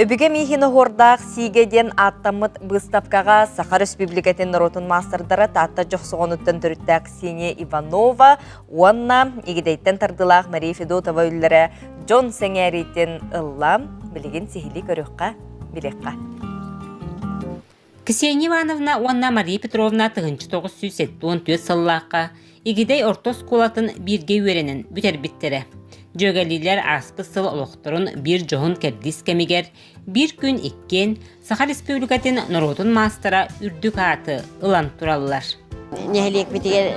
Үбүгэ миһин оһуордаах сиигэ диэн ааттаммыт быыстапкаҕа Саха Республикатын норуотун маастардара Таатта Дьохсоҕонуттан төрүттээх Ксения Иванова уонна Игидэйтэн тардылаах Мария Федотова үллэрэ дьон сэҥээриитин ылла. Билигин сиһилии көрүөххэ, билиэххэ. Ксения Ивановна уонна Мария Петровна тыһыынча тоҕус сүүс сэттэ уон түөрт сыллаахха Игидэй орто оскуолатын бииргэ үөрэнэн бүтэрбиттэрэ. Дьүөгэлиилэр ааспыт сыл олохторун биир дьоһун кэрдиис кэмигэр биир күн иккиэн Саха Республикатын норуотун маастара үрдүк ааты ылан тураллар. нэһилиэкпитигэр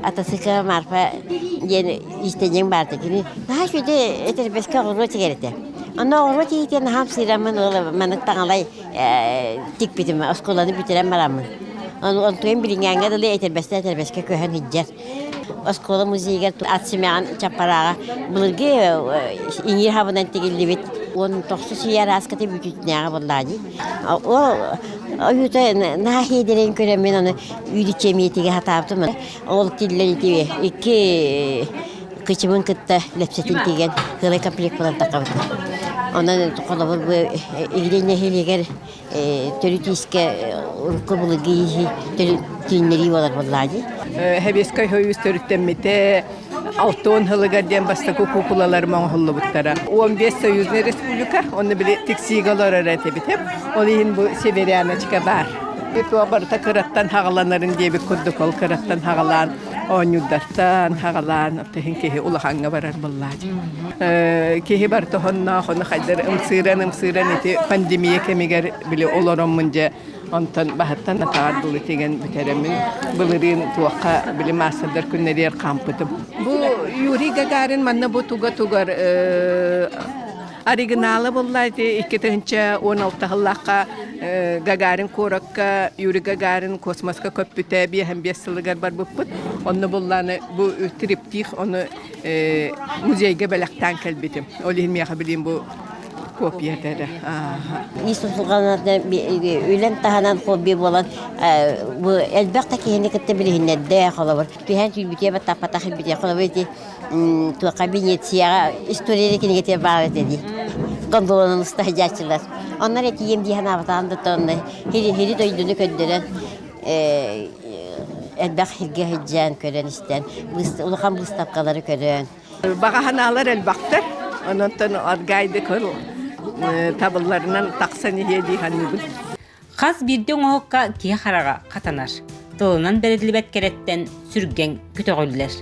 атасыка Марфа диэн иистэнньэҥ баарда кини наһаа үчүгэй этэрбэскэ оҕуруо тигэритэ онно оҕуруо тигитэ наһаа сыыраммын ыла маннык таҥалай тикпитим оскуоланы бүтэрэн бараммын онтуйан билиҥҥээҥҥэ дылы этэрбэстэ этэрбэскэ көһөн иһдьэр оскуола музейыгар ат симэҕин чаппарааҕа былыргы иҥиир хабынан тигиллибит уон тохсус ый арааската бүтүүтнээҕи буоллаа дии Ойуута нааһиидэрин көрөммүн аны үүрүччэмиитигэ сатаабытым. Ол тиллэн ити икки кычыбын кытта лэпсэтин тигэн кыылай комплект булан таххабытым. Онон холобур бу Игирей нэһилиэгэр төрүт иискэ урукку былыргы ииһи түүннэрии буолар буоллаа дии. Хэбиэскэй ойуус төрүттэммитэ Алта уон сылыгар диэн бастакы куукулаларым оҥоһуллубуттара. Он бес союзный республика, оны били тиксиигэ олорор этибитим. Ол иһин бу северяночка баар. Итого барыта кыраттан хагаланарын диэбит курдук ол кыраттан хагалаан оонньуурдартан хагалаан тыһын киһи улахаҥҥа барар буллаат. Киһи барта хонноох, оны хайдар ымсыыран ымсыыран ити пандемия кэмигэр били олороммун дьэ Онтон баһыттан атаҕар дылы тигэн бүтэрэммин, былырыын туохха били маастардар күннэригэр хаампытым. Бу Юрий Гагарин манна бу туга-тугар оригинала буолла икки тыһынча он алтыһыллаахха Гагарин куоракка Юрий Гагарин космоска көппүтэ биэһэн биэс сылыгар барбыппыт. Онно буллааны бу триптих ону музейга бэлэхтээн кэлбитим. Ол иһин миэхэ билин бу копията эрэ ис усулҕанарда үлэн таһынан хобби буолан бу элбэх да киһини кытта билиһиннэрдэ холобур түһэн сүүрбүтэ баттаппатах битэ холобур ити туоха Венецияҕа история кинигэтэ баар этэ дии гондолонун ыста хадьааччылар оннор этием дии санаабатаан да тонна хири дойдуну көрдөрөн элбэх хиргэ сыдьаан көрөн истэн улахан быыстапкалары көрөн Элбэх аһынаалар элбэхтэр. Онон аргайды кыл табылларынан тахсан иһиэ дии саныыбын. Хас биирдии оҥоһукка киһи хараҕа хатанар. Тылынан бэриллибэт кэрэттэн сүргэҥ көтөҕүллэр.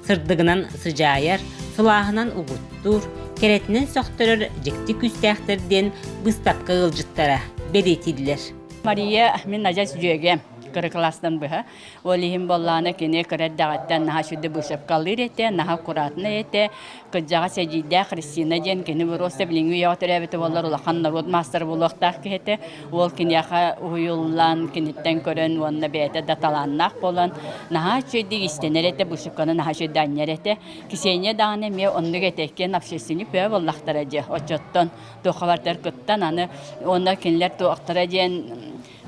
Сырдыгынан сыдьаайар, сылааһынан угуттуур, кэрэтинэн сөхтөрөр дьикти күүстээхтэр диэн быыстапка ыалдьыттара бэлиэтииллэр. Мария, мин адьас дьүөгэм кыра класстан быһа Ол иһин боллаана кини кыра эрдэҕиттэн наһаа сүдү быысапкалыыр этэ, наһаа аккуратнай этэ. Кырдьаҕас эдьиийдээх Христина диэн кини просто билиҥҥи үйэҕэ төрөөбүтэ буоллар улахан норуот маастара буолуохтаах киһи этэ. Уол киниэхэ уһуйуллан, киниттэн көрөн уонна бэйэтэ да талааннаах буолан, наһаа үчүгэйдик истэнэр этэ, быысапканы наһаа үчүгэй анньар этэ. Кисиэнньэ даҕаны эмиэ оннук этэ, иккиэн общественник бөҕө буоллахтара дьэ, оччоттон туоххабартар кыттан аны уонна кинилэр туохтара диэн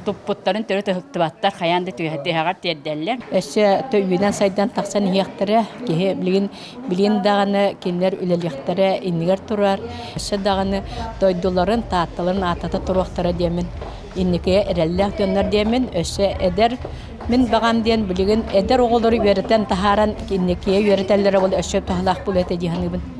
туппуттарын төрүт ыһыктыбаттар хайаан да түһэҕэр тиэрдэллэр. Өссө үйүнэн сайдан тахсан иһиэхтэрэ киһи билигин билин даҕаны кинилэр үлэлиэхтэрэ иннигэр турар өссө даҕаны дойдуларын таатталарын аатата туруохтара диэмин инникигэ эрэллээх дьоннор диэмин өссө эдэр мин баҕам диэн билигин эдэр оҕолору үөрэтэн таһааран инникигэ үөрэтэллэрэ ол өссө туһалаах буолуо этэ дии саныыбын